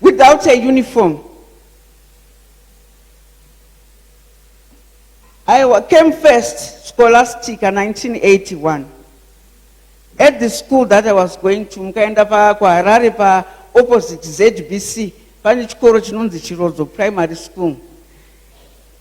without a uniform I came first scholastic 1981 at the school that I was going to mukaenda pakuharare paopposite ZBC pane chikoro chinonzi Chirodzo primary school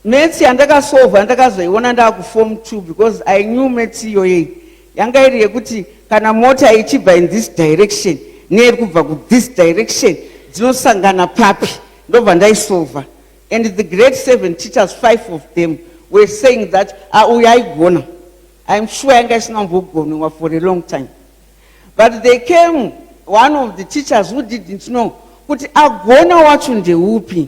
Maths yandakasolva ndakazoiona ndaakuform 2 because I knew maths iyoyei yanga iri yekuti kana mota ichibva in this direction neiri kubva kuthis direction dzinosangana papi ndobva ndaisolva and the grade seven teachers five of them were saying that auya ah, aigona iam sure yanga isina mbogonwa for a long time but they came one of the teachers who didn't know kuti agona wacho ndeupi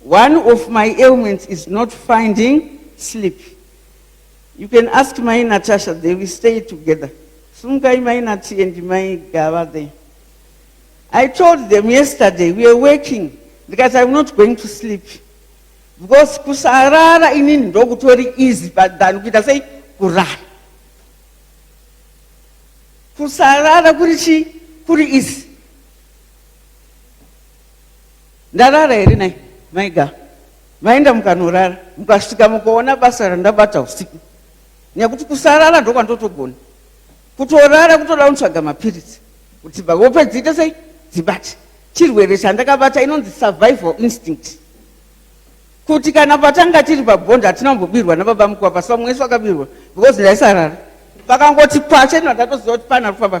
One of my ailments is not finding sleep. You can ask my Natasha, they will stay together. Sumkai my Nati and my Gava there. I told them yesterday, we are working because I'm not going to sleep. Because kusarara inini ndokutori easy than kuita sei kurara. Kusarara kuri chi kuri easy. ndarara here nai maiga maenda mukanorara mukasvika mukaona basa randabata usiku nekuti kusarara ndokwandotogona kutorara kutoda kutsvaga mapiritsi kuti hope dziite sei dzibate chirwere chandakabata inonzi survival instinct kuti kana patanga tiri pabhondi hatina kumbobirwa nababa mukuwa pasamwe yesu akabirwa because ndaisarara vakangoti pache ndatatoziva kuti pana kufamba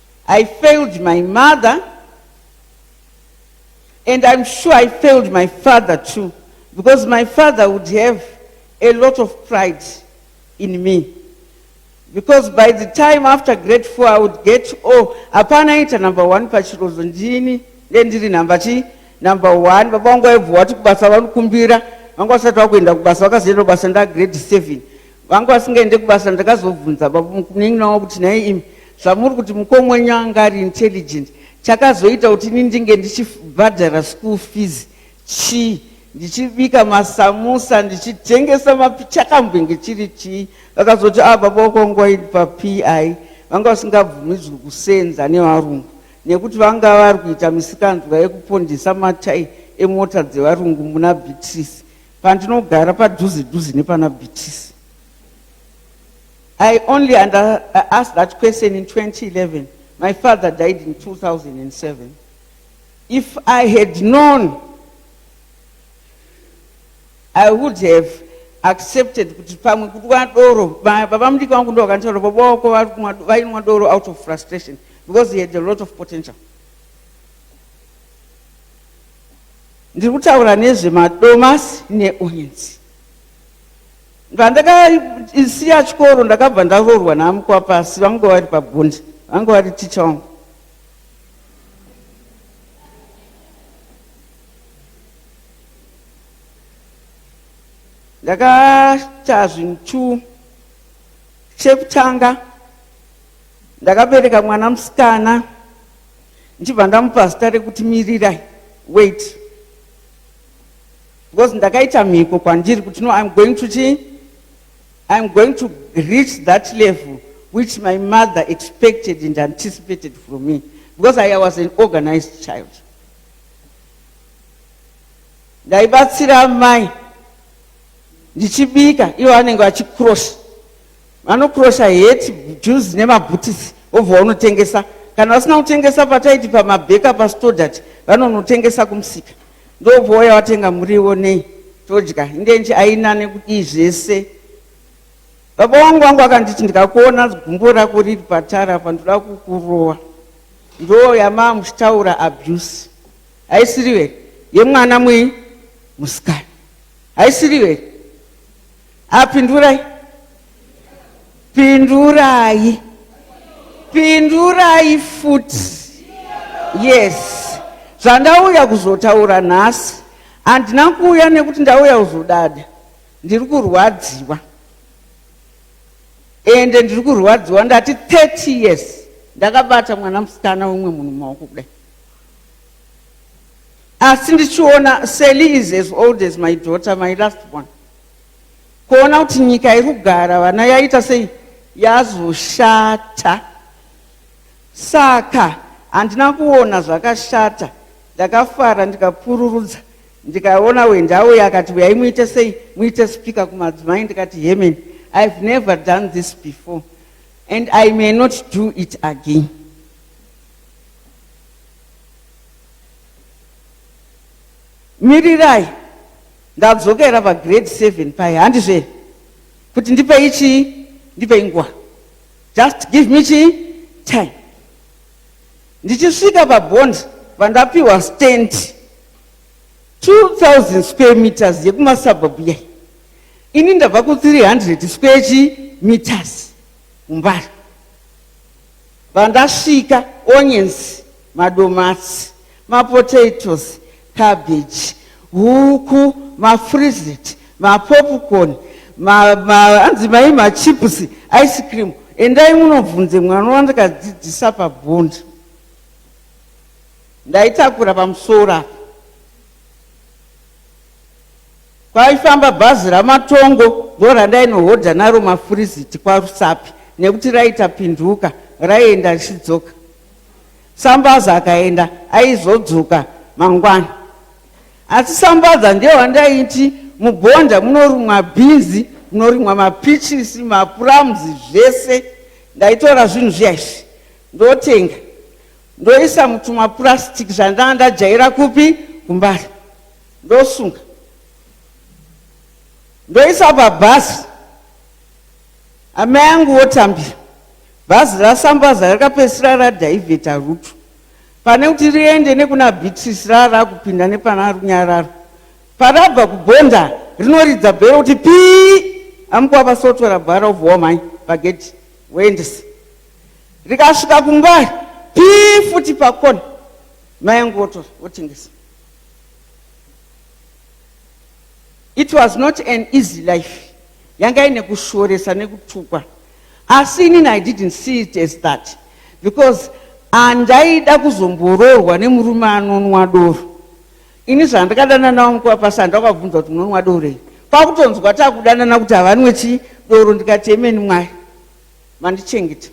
I failed my mother and I'm sure I failed my father too because my father would have a lot of pride in me because by the time after grade four I would get oh hapana aita number one pachirozo ndini ndendiri number chi number one baba vangu vaibvuwa kuti kubasa vanokumbira vanga vasati vakuenda kubasa vakazoenda kubasa ndagrade seven vanga vasingaende kubasa ndakazobvunza babamunin'ina wangu kuti nhai imi zvamuri kuti mukoma wenyu anga ari intelligent chakazoita kuti ini ndinge ndichibhadhara school fees chii ndichibika masamusa ndichitengesa mapi chakambenge chiri chii vakazoti a ah, baba wako wanga waidi papi vanga vasingabvumidzwi kusenza nevarungu nekuti vanga vari kuita misikanzwa yekupondesa matai emota dzevarungu muna beatrice pandinogara padhuze dhuze nepana bhitisi i only under, I uh, asked that question in 2011 my father died in 2007 if i had known i would have accepted kuti pamwe kudwa doro baba mudiki vangu ndo vakanitaura baba wako vainwa doro out of frustration because he had a lot of potential Ndiri kutaura nezve madomasi ne onions. Pandakasiya chikoro ndakabva ndaroorwa naamukwa pasi vanga vari pabonde vanga vari ticha wangu. Ndakaita zvinhu two chekutanga ndakabereka mwana musikana ndichibva ndamupa zita rekuti mirirai wait because ndakaita mhiko kwandiri kuti no im going to chii I'm going to reach that level which my mother expected and anticipated from me because I was an organized child. ndaibatsira amai ndichibika ivo vanenge vachicross Vanokurosha heti, juzi nemabhutisi obva vanotengesa. Kana vasina kutengesa pataiti pamabheka pastodati vanonotengesa kumusika. Ndobva waya watenga muriwo nei todya indenji aina nekudii zvese. Baba wangu wangu akanditi ndikakuona gumbo rako riri patara apa ndoda kukurowa. Ndoo yamaa muchitaura abuse. Haisiriwe yemwana mwenyu musikana. Haisiriwe Apindurai. Pindurai. Pindurai futi. Yes. Zvandauya kuzotaura nhasi handina kuuya nekuti ndauya kuzodada. Ndiri kurwadziwa. Ende ndiri kurwadziwa ndati 30 years ndakabata mwana musikana wemwe munhu maoko kudai. Asi ndichiona Sally is as old as my daughter, my last one. kuona kuti nyika iri kugara vana yaita sei yazoshata saka handina kuona zvakashata ndakafara ndikapururudza ndikaona wendawo yakati uyai muite sei muite spika kumadzimai ndikati hemen ihave never done this before and i may not do it again mirirai Ndadzokera pa grade 7 paye handizve kuti ndipei chii ndipei nguva just give me chii time ndichisvika pabond vandapiwa stand 2000 square meters yekumasabhabhu yai ini ndabva ku 300 square chi meters mumbari Pandasvika onions, madomasi, mapotatoes, cabbage, huku, mafrizit, mapopcorn, ma, ma, anzi mai machips, ice cream. Endai munobvunze mwana wandakadzidzisa pabhondi. Ndaitakura pamusoro apa. Kwaifamba bhazi raMatongo ndorandainohodha naro mafuriziti kwaRusapi nekuti raiita pinduka raienda richidzoka. Sambaza akaenda aizodzoka mangwana. Asi Sambaza ndiye wandaiti muBonda munorumwa bhinzi, munorimwa mapichisi, mapuramuzi zvese. Ndaitora zvinhu zviya izvi ndotenga ndoisa mutumapurasitiki zvandanga ndajaira kupi kuMbare. ndosunga ndoisa pabhazi amai angu wotambira bhazi rasambaza rakapedzisira radhaivheta rutu pane kuti riende nekuna beatrice raa rakupinda nepana runyararo parabva kubhonda rinoridza bhero kuti pii amukwa vasotora bhara obvowa mhai pagedhi woendesa rikasvika kumba pii futi pakona mai angu wotora wotengesa It was not an easy life. Yanga ine kushoresa nekutukwa. Asi inini I didn't see it as that because andaida kuzomboroorwa nemurume anonwa doro. Ini zvandakadana nawo mukuva pasi andakabvunza kuti munonwa doro iri. Kwakutonzwa takudanana kuti havanwe chi doro ndikati emeni mwari mandichengeta.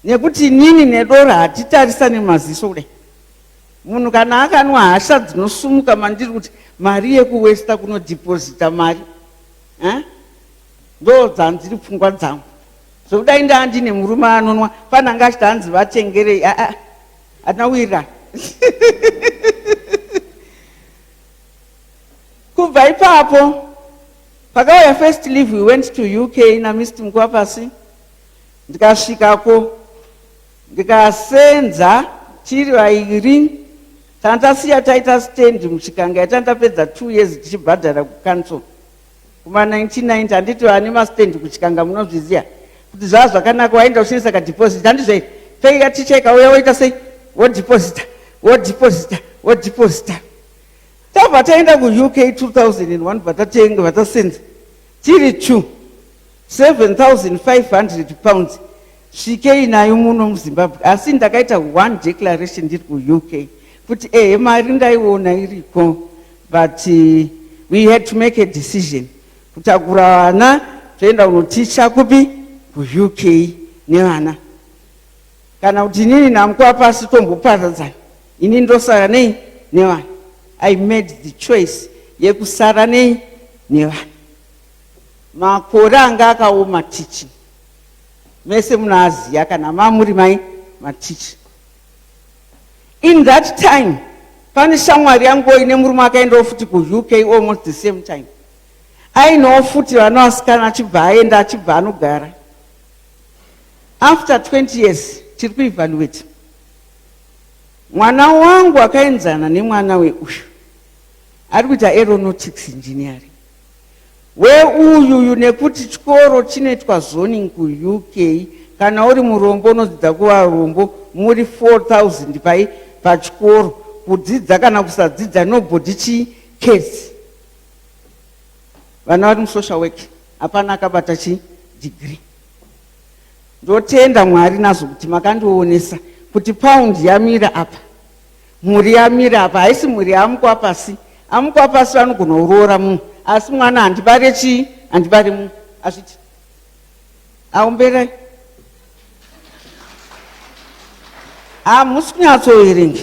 Nekuti inini nedoro hatitarisane maziso kudai. Munhu kana akanwa hasha dzinosumuka mandiri kuti mari yekuwesta kunodhipozita mari eh? ndo dzandiri pfungwa dzangu zvekudai ndaa ndine murume anonwa pananga achiti hanzi vatengerei aa ah, ah, hatina wira kubva ipapo pakauya first leave we went to uk namist mukuvapasi ndikasvikako Ndikasenza chiri vairi tandasiya taita stand muchikanga yatandapedza two years tichibhadhara kucouncil kuma 1990 handiti vane mastand kuchikanga munozviziva kuti zvava zvakanaka waenda uchinisa kadeposit handizve peiya ticha ikauya woita sei wodeposita wodeposita wodeposita tabva taenda kuuk 2001 bva tatenga bva tasenza Tiri two 7500 pounds svikei nayo muno muzimbabwe asi ndakaita one declaration ndiri kuuk kuti ehe mari ndaiona iriko but eh, we had to make a decision kutakura vana toenda kunoticha kupi kuuk nevana kana kuti inini namukuva pasi tomboparadzana ini ndosara nei nevana i made the choice yekusara nei nevana makore anga akaoma tichi mese munaaziya kana mamuri mai matichi in that time pane shamwari yanguo ine murume akaendawo futi kuuk almost the same time ainowo futi vana vasikana achibva aenda achibva anogara after 20 years tiri kuevaluate mwana wangu akaenzana nemwana weuyu ari kuita aeronautics engineering weuyuyu nekuti chikoro chinoitwa zoning kuuk kana uri murombo unodzidza kuvarombo muri 4000 pai pachikoro kudzidza kana kusadzidza nobody chi case vana vari musocial work hapana akabata chidigiri ndotenda mwari nazvo kuti makandionesa kuti paundi yamira apa mhuri yamira apa haisi mhuri yaamukwa pasi amukwa pasi vanogona kuroora munhu asi mwana handibare chii handibare munhu azviti Aumbere. Hamusi kunyatsoverenga.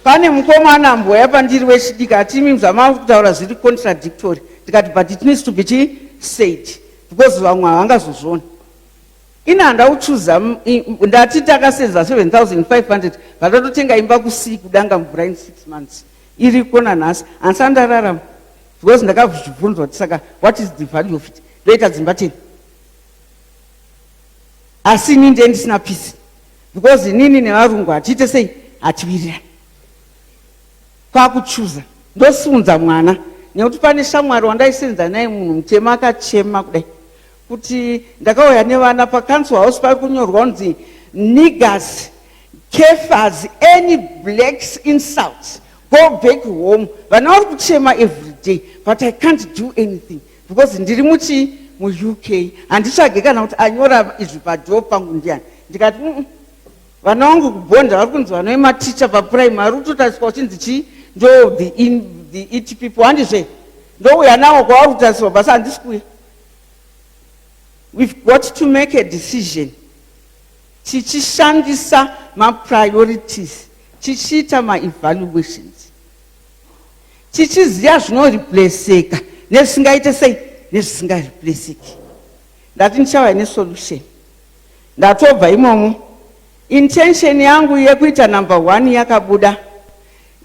Pane mukomana mboya pandiri wechidiki ati imi zvamava kutaura zviri contradictory. Ndikati but it needs to be chii said because vamwe havangazozviona ini handa kuchuza ndati takasenza 7500 vatatotenga imba kusii kudanga mvura in six months iriko nanhasi handisati ndararama because ndakazvibvunzwa kuti saka what is the value of it ndoita dzimba teni asi ini ndiye ndisina pisi because inini nevarungu hatiite sei hatiwirirani kwakuchuza ndosiunza mwana nekuti pane shamwari wandaisenza naye munhu mutema akachema kudai kuti ndakauya nevana pacouncil house pari kunyorwa kunzi niggas kefas any blacks insults go back home vana vari kuchema everyday but i can't do anything because ndiri muchii muuk handitsvage kana kuti anyora izvi padoo pangu ndiani ndikati mm, vana vangu kubhonda vari kunzi vanove maticha papuraimari utotariswa uchinzi chii ndo the, in, the et people handizve ndouya nawo kwavari kutarisirwa basi handisi kuya We've got to make a decision tichishandisa mapriorities tichiita maevaluations tichiziva zvinoreplaceka nezvisingaite sei nezvisingareplaceki ndati ndichauya nesolution ndatobva imomo intention yangu yekuita number one yakabuda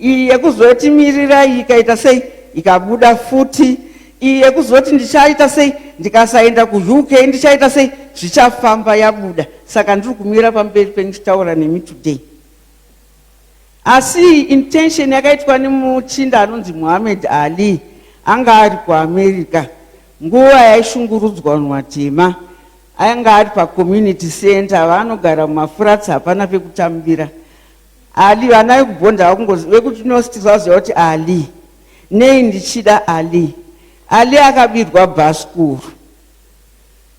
iyi yekuzoti mirirai ikaita sei ikabuda futi iyi yekuzoti ndichaita sei ndikasaenda kuuk ndichaita sei zvichafamba yabuda saka ndiri kumira pamberi penyu chitaura nemi today asi intention yakaitwa nemuchinda anonzi muhammed ali anga ari kuamerica nguva yaishungurudzwa vanhu vatema anga ari pacommunity center vanogara mumafuratsi hapana pekutambira Ali vana vekubhonda vakungozi vekuti nosti vaziva kuti Ali nei ndichida Ali Ali akabirwa bhasikuru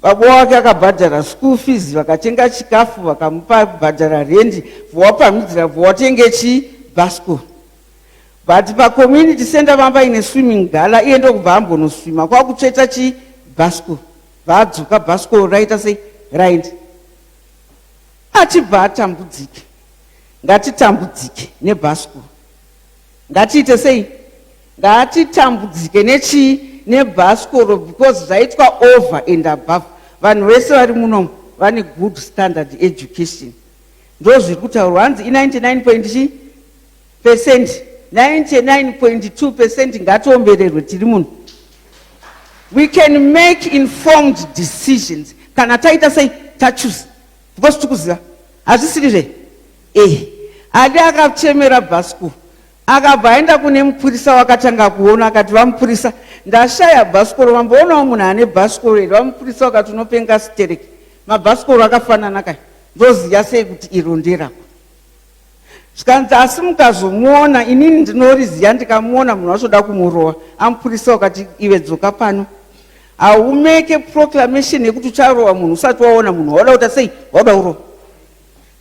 baba wake akabhadhara school fees vakatenga chikafu vakamupa kubhadhara rendi vowapamhidzira vowatenge chi bhasikuru but pacommunity center vamba ine swimming gala iye ndokubva ambonoswima kwakutsveta chi bhasikuru vaadzoka bhasikuru raita sei raindi Achibva atambudzike. Ngatitambudzike nebhasikoro. Ngatiite sei? Ngatitambudzike nechii? Nebhasikoro because zvaitwa over and above. Vanhu vese vari munomu vane good standard education. Ndozviri kutaurwa hanzi i99 point chii? Percent. 99.2 percent ngatiombererwe tiri muno. We can make informed decisions kana taita sei tachuza. because tikuziva hazvisiri zve eh adi akachemera bhasku akabva aenda kune mupurisa wakatanga kuona akati vamupurisa ndashaya bhasikoro vamboonawo munhu ane bhasikoro here vamupurisa wakati unopenga sitereki mabhasikoro akafanana kai ndoziva sei kuti iro nderako zvikanzi asi mukazomuona inini ndinoriziya ndikamuona munhu wachoda kumurowa amupurisa wakati ive dzoka pano haumeke proclamation yekuti ucharowa munhu usati waona munhu wauda kuta sei wauda kurowa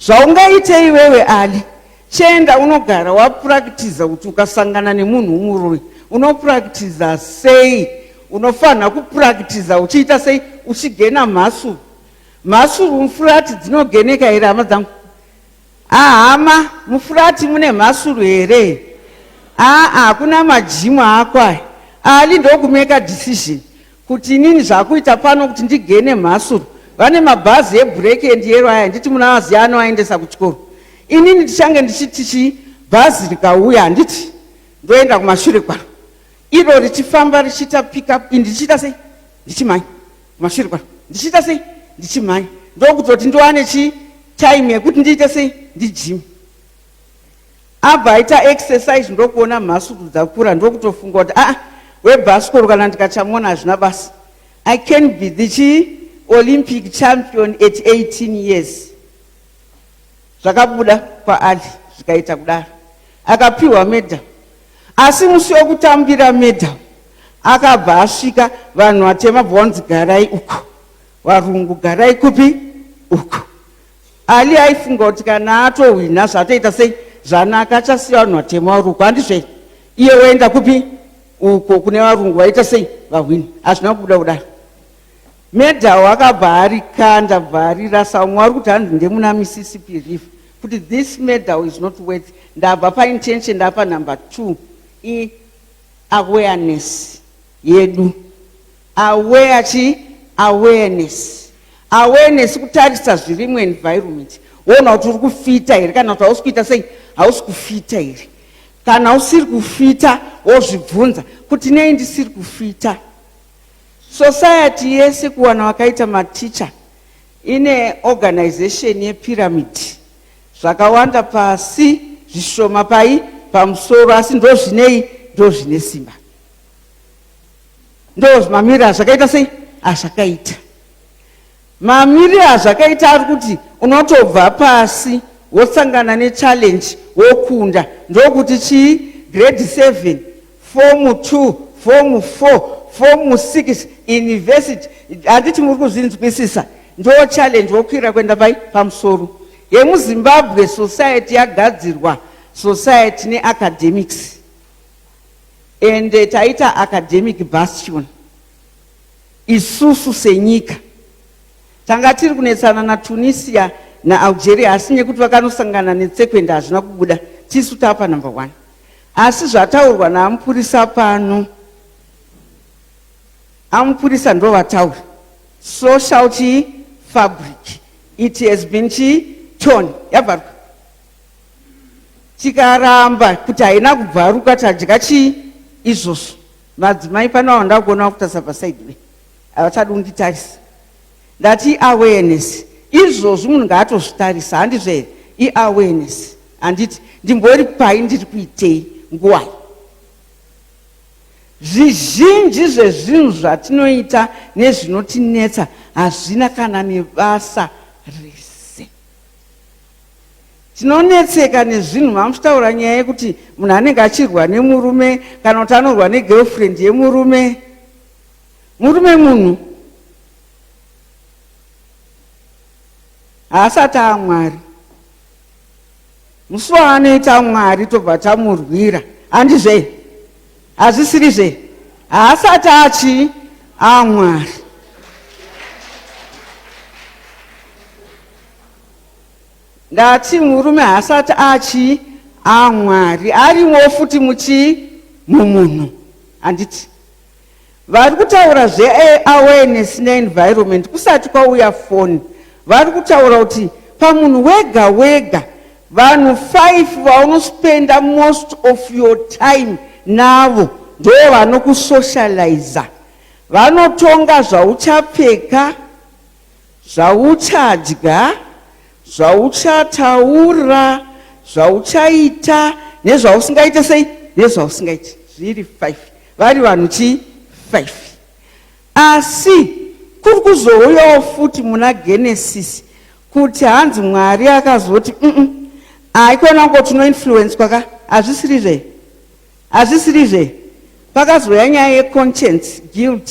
zvaungaite iwewe ali chienda unogara wapurakitiza kuti ukasangana nemunhu umuroi unopurakitiza sei unofanira kupurakitiza uchiita sei uchigena mhasuru mhasuru mfurati dzinogeneka here hama dzangu Haa hama mufurati mune mhasuru here haa hakuna majimu ako aya ali ndokumeka decision kuti inini zvakuita pano kuti ndigene mhasuru vane mabhazi ebreak and yero aya nditi muna vaziya anoaendesa kuchikoro inini ndichange ndichiti chi bhazi rikauya handiti ndoenda kumashure kwaro iro richifamba richiita pickup ndichiita sei ndichimhanya Masvirwa ndichiita sei ndichimhanya ndokutoti ndiwane chi time yekuti ndiite sei ndijime abva aita exercise ndokuona mhasuku dzakura ndokutofunga kuti aa ah, webhasikoro kana ndikachamona hazvina basa i can be the chi olympic champion at 18 years zvakabuda kwaali zvikaita kudaro akapiwa medha Asi musi wekutambira medal akabva asvika vanhu vatema bvonzi garai uku varungu garai kupi uku ali aifunga kuti kana atohwina zvatoita sei zvanaka achasiya vanhu vatema vari uku handizvei iye woenda kupi uko kune varungu vaita sei vahwini hazvina kubuda kudaro Medal akabva arikanda bva arirasa umwe ari kuti hanzi ndemuna Mississippi River kuti this medal is not worth ndabva pa intention ndapa number two i awareness yedu aware chi awareness awareness kutarisa zviri mu environment woona kuti uri kufita here kana kuti hausi kuita sei hausi kufita here kana usiri kufita wozvibvunza kuti nei ndisiri kufita Society yese kuwana vakaita mateacher ine organization yepyramid zvakawanda pasi zvishoma pai pamusoro asi ndozvinei ndozvine simba ndozvimamira zvakaita sei azvakaita Mamirire azvakaita ari kuti unotobva pasi wosangana nechallenge wokunda. Ndokuti chii? Grade 7, form 2, form 4, form 6, university. Handiti muri kuzvinzwisisa? Ndo challenge wokwira kuenda pai? Pamusoro. YemuZimbabwe society yagadzirwa society neacademics. Ende taita academic bastion. Isusu senyika tanga tiri kunetsana naTunisia naAlgeria asi nekuti vakanosangana netsekwende hazvina kubuda tisu tapa number one asi zvataurwa naamupurisa pano amupurisa ndovataura social chi fabric it has been chi tone yabvaruka tikaramba kuti haina kubvaruka tadya chii izvozvo Madzimai pano awo ndakuona vakutarisa pasaidi be havachadi kunditarisa ndati iawareness izvozvi munhu ngaatozvitarisa handizvo here iawareness handiti ndimbori pai ndiri kuitei nguwai zvizhinji zvezvinhu zvatinoita nezvinotinetsa hazvina kana nebasa rese tinonetseka nezvinhu mamuchitaura nyaya yekuti munhu anenge achirwa nemurume kana kuti anorwa negirlfriend yemurume murume munhu haasati amwari musi waanoita mwari tobva tamurwira handizve hazvisiri zve haasati achi amwari Ndati murume haasati achii amwari ah, arimo futi muchii mumunhu handiti vari kutaura zveawareness neenvironment kusati kwauya foni vari kutaura kuti pamunhu wega wega vanhu five vaunospenda most of your time navo ndo vanokusocializa vanotonga zvauchapfeka zvauchadya, zvauchataura, zvauchaita nezvausingaite sei nezvausingaite zviri five vari vanhu chii five asi kuri kuzouyawo futi muna genesis kuti hanzi mwari akazoti mm haikona ngo tinoinfluenswa ka hazvisiri zve hazvisiri zve pakazouya nyaya yeconscience guilt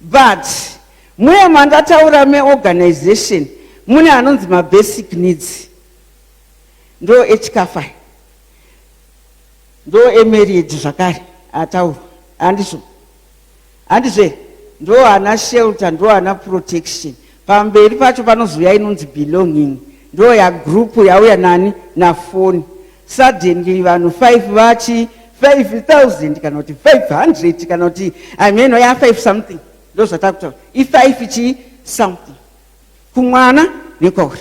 But muya mandataura meorganization mune anonzi mabasic needs ndo echikafa ndo emarriage zvakare ataurwa handizvo handizve ndo ana shelter ndo ana protection Pamberi pacho panozouya inonzi belonging ndo ya group yauya nani na phone. Suddenly vanhu 5 vachi 5000 kana kuti 500 kana kuti I mean ya 5 something ndo zvatakuta. I 5 chi something. Kumwana nekwauri.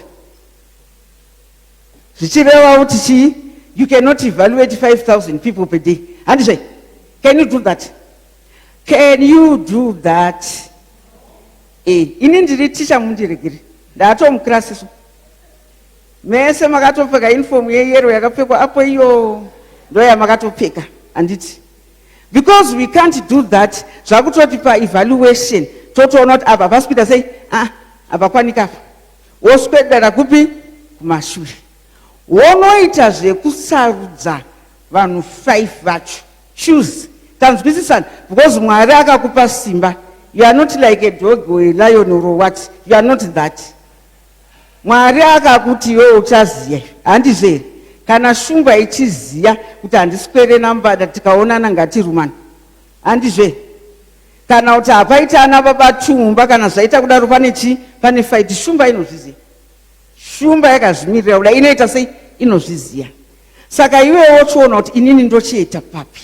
Zvichireva kuti chi you cannot evaluate 5000 people per day. Handizve? Can you do that? Can you do that? Eh, ini ndiri ticha mundiregere ndatomuclass so mese makatopfeka uniform yeyero yakapfekwa apo iyo ndoyamakatopfeka handiti because we can't do that zvakutoti paevaluation totoona kuti apa pasi kuita sei ah, apa kwanika apa woswedera kupi kumashure wonoita zvekusarudza vanhu five vacho Choose tanzwisisana because Mwari akakupa simba you are not like a dog or a lion or what you are not that Mwari akakuti iwe uchaziya handizvo here kana shumba ichiziya kuti handiswere nambada tikaonana ngatirumana handizvo here kana kuti hapaita ana baba chumba kana zvaita kudaro pane chii pane fight shumba inozviziya shumba yakazvimirira kuda inoita sei inozviziya saka iwewe wochiona kuti inini ndochiita papi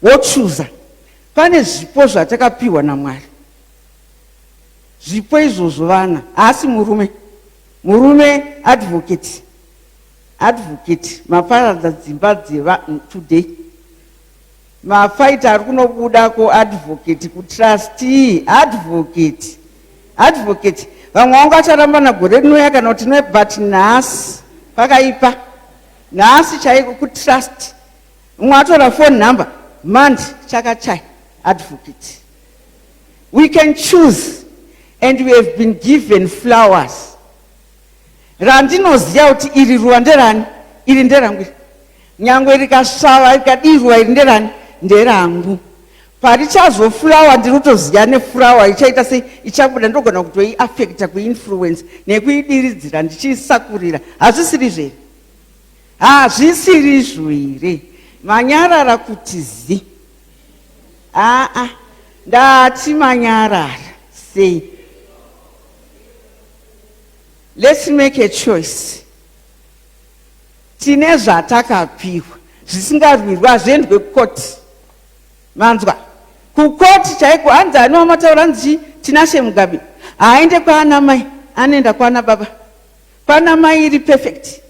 wochuza pane zvipo zvatakapiwa namwari zvipo izvozvo vana haasi murume murume advocate advocate maparadza dzimba dzeva today Mafight ari kunobuda ko advocate ku trustee advocate advocate vamwe vangu acharambana gore rinouya kana kuti ne but nhasi pakaipa nhasi chaiko ku trust mumwe atora phone number mandi chakachai advocate we can choose and we have been given flowers randinoziva kuti iri ruva nderani iri nderangu iri nyangwe rikasvava rikadii ruva iri nderani nderangu parichazofurawa ndiri kutoziva nefurawa ichaita sei ichabuda ndogona kutoiafekta kuinfluence nekuidiridzira ndichiisakurira hazvisiri zvere hazvisiri zvo here manyarara kuti zi aa ndati manyarara sei Let's make a choice. Tine zvatakapihwa zvisingarwirwa hazviendwe kukoti. Manzwa? Kukoti chaiko hanzi ani wamataura hanzi Tinashe Mugabe. Haaende kwaana mai, anoenda kwaana baba. Kwaana mai iri perfect.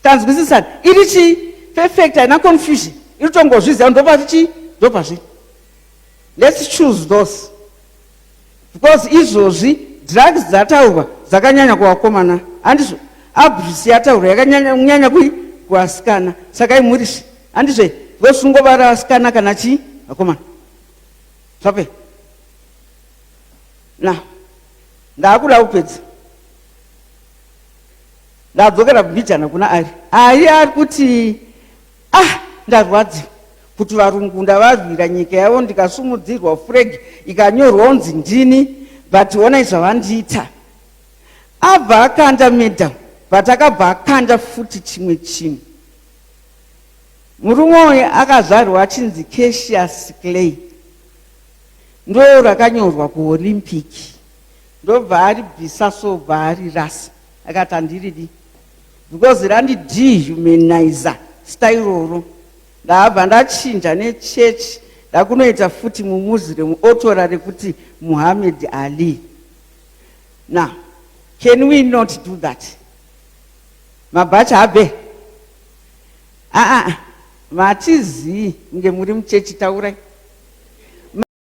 Tanzwisisana. Iri chi perfect haina confusion. Iri tongozviziva ndopati chi ndopazvi. Let's choose those. Because izvozvi drugs dzataurwa dzakanyanya kuvakomana andizvo abuse yataurwa yakanyanya kui kuvasikana sakai murisi andizvo because ungovara vasikana kana chii vakomana zvape na ndaakuda kupedza ndadzokera kubijana kuna ari ari ari kuti Ah, ndarwadziwa kuti varungu ndavarwira nyika yavo ndikasumudzirwa furegi ikanyorwa unzi ndini but onai zvavandiita abva akanda madam but akabva akanda futi chimwe chinhu murume uyu akazvarwa achinzi casius clay ndo rakanyorwa kuolympic ndobva aribvisa so bva arirasa akati handiridi because randi dehumanizer stairoro ndabva ndachinja nechechi ndakunoita futi mumuziremu otora rekuti muhammed ali now can we not do that mabhachi habe aa ah, ah, ah. matizii kunge muri muchechi taurai